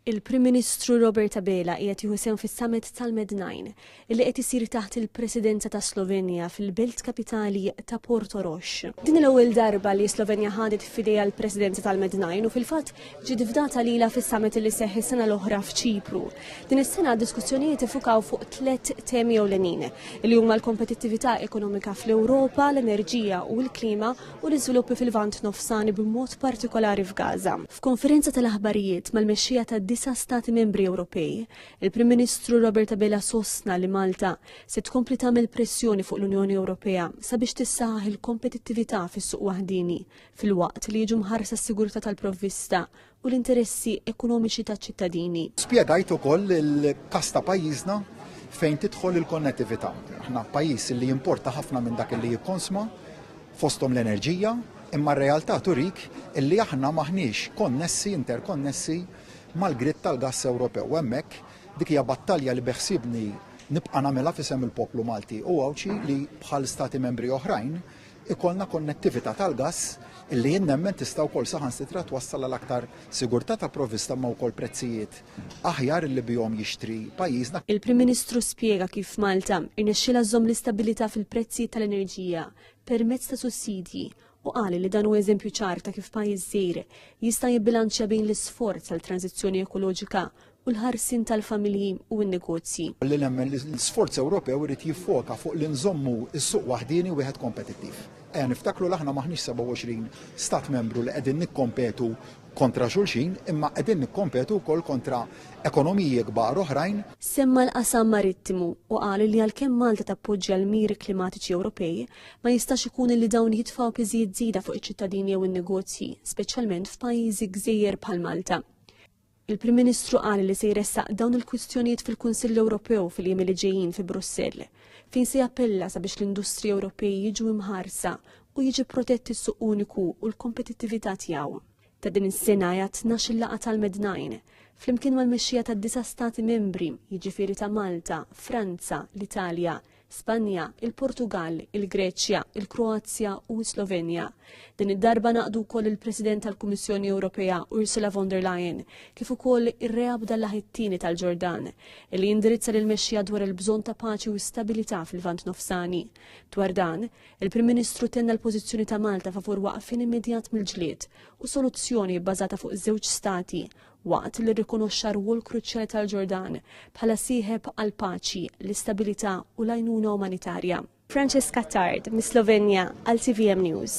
Il-Prim Ministru Robert Abela qiegħed jieħu sehem fis-Summit tal-Mednajn li qed isir taħt il-Presidenza ta' Slovenja fil-belt kapitali ta' Porto Rox. Din l-ewwel darba li Slovenja ħadet f'idejha l-Presidenza tal-Mednajn u fil-fatt ġiet fdata lilha fis-Summit li seħħ is-sena l-oħra f'Ċipru. Din is-sena diskussjonijiet ifukaw fuq tliet temi ewlenin li huma l-kompetittività ekonomika fl-Ewropa, l-enerġija u l-klima u l-iżviluppi fil-Lvant Nofsani b'mod partikolari f'Gaza. F'konferenza tal-aħbarijiet mal-mexxejja tad-disa' Stati Membri Ewropej, il-Prim Ministru Robert Abela sostna li Malta se tkompli tagħmel pressjoni fuq l-Unjoni Ewropea sabiex tissaħħaħ il-kompetittività fis-suq waħdieni filwaqt li jiġu mħarsa s-sigurtà tal-provvista u l-interessi ekonomiċi taċ-ċittadini. Spjegajt ukoll il-każ ta' pajjiżna fejn tidħol il-konnettività. Aħna pajjiż li jimporta ħafna minn dak li jikkonsma fosthom l-enerġija, imma r-realtà turik illi aħna maħniex konnessi, interkonnessi mal-grid tal-gass Ewropew. Hemmhekk dik hija battalja li beħsibni nibqa' nagħmilha fisem il-poplu Malti u Għawdxi li bħal stati membri oħrajn ikollna konnettività tal-gass illi jien nemmen tista' wkoll saħansitra twassal għal aktar sigurtà ta' provvista imma wkoll prezzijiet aħjar illi bihom jixtri pajjiżna. Il-Prim Ministru spjega kif Malta rnexxielha żżomm l-istabilità fil-prezzijiet tal-enerġija permezz ta' sussidji u qal li dan hu eżempju ċar ta' kif pajjiż żgħir jista' jibbilanċja bejn l-isforz għal tranżizzjoni ekoloġika u l-ħarsien tal-familji u n-negozji. Li nemmen li l-sforz Ewropew irid jiffoka fuq li nżommu s-suq waħdieni wieħed kompetittiv. Ejja niftakru l aħna maħniex 27 stat membru li qegħdin nikkompetu kontra xulxin imma qegħdin nikkompetu wkoll kontra ekonomiji kbar oħrajn. Semma l-qasam marittimu u qal li għalkemm Malta tappoġġja l-miri klimatiċi Ewropej, ma jistax ikun li dawn jitfgħu piżijiet żieda fuq iċ-ċittadini jew in-negozji, speċjalment f'pajjiżi gżejjer bħal Malta. Il-Prim Ministru qal li se jressaq dawn il-kwistjonijiet fil-Kunsill Ewropew fil-jiem li ġejjin fi Brussell, fejn se jappella sabiex l-industriji Ewropej jiġu imħarsa u jiġi protett is-suq uniku u l-kompetittività tiegħu. Ta' din is-sena hija tnax-il laqgħa tal-Mednine, flimkien mal-mexxija tad-disa' Stati Membri, jiġifieri ta' Malta, Franza, l-Italja, Spanja, il-Portugal, il-Greċja, il-Kroazja u s-Slovenja. Din id-darba naqdu wkoll il-President tal-Kummissjoni Ewropea Ursula von der Leyen kif ukoll ir-reab dal-laħittini tal-Ġordan li jindirizza lil mexxija dwar il-bżonn ta' paċi u stabilità fil-Vant Nofsani. Dwar dan, il-Prim Ministru tenna l-pożizzjoni ta' Malta favur waqfin immedjat mill-ġlied u soluzzjoni bbażata fuq żewġ stati waqt li rrikonoxxa r-rwol kruċjali tal-Ġordan bħala sieħeb għall-paċi, l-istabilità u l-għajnuna umanitarja. Francesca Tard, mis-Slovenja, għal TVM News.